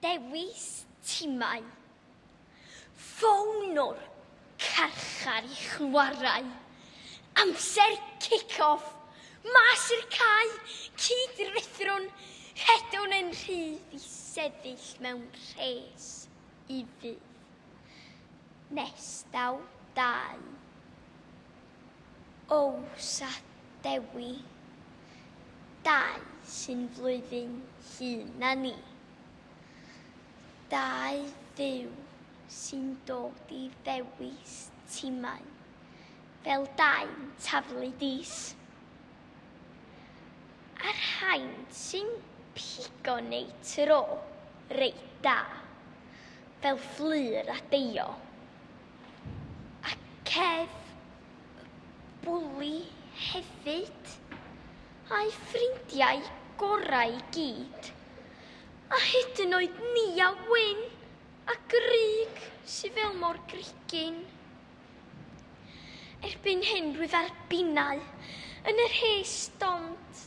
Dewis timau. Ffôn o'r carchar i chwarae. Amser kick-off. Mas i'r cae, cyd-ruthrwn, rhedwn yn rhydd i sefyll mewn rhes i fydd. Nes daw dau. Ows a Dewi, dau sy'n flwyddyn hŷn na ni. Dau fyw sy'n dod i ddewis timau fel dau'n taflu dis. A'r rhain sy'n pigo neu tro reit da, fel Fflur a Deio. A cef bwli hefyd. A'i ffrindiau gorau i gyd. A hyd yn oed ni a Wyn a Grug sy fel mor grugyn. Erbyn hyn rwyf ar binnau yn yr hen stond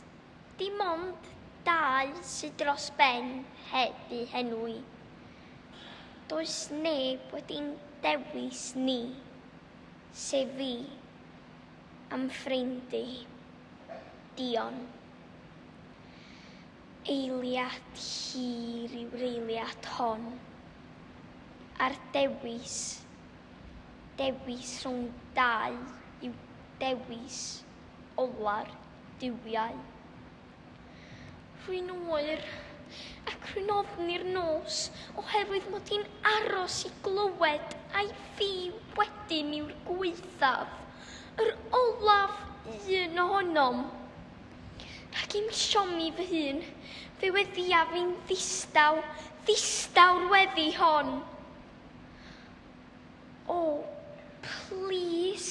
Dim ond dau sydd dros ben heb eu henwi. Does neb wedi'n dewis ni, sef fi, am ffrind i. Dion. Eiliad hir yw'r eiliad hon. A'r dewis, dewis rhwng dau yw dewis ola'r duwiau. Rwy'n oer ac rwy'n ofni'r nos oherwydd mod i'n aros i glywed ai fi wedyn yw'r gwaethaf, yr olaf un ohonom. Ac i'm siomi fy hun, fe weddiaf fi'n ddistaw, ddistaw'r weddi hon. O, plis.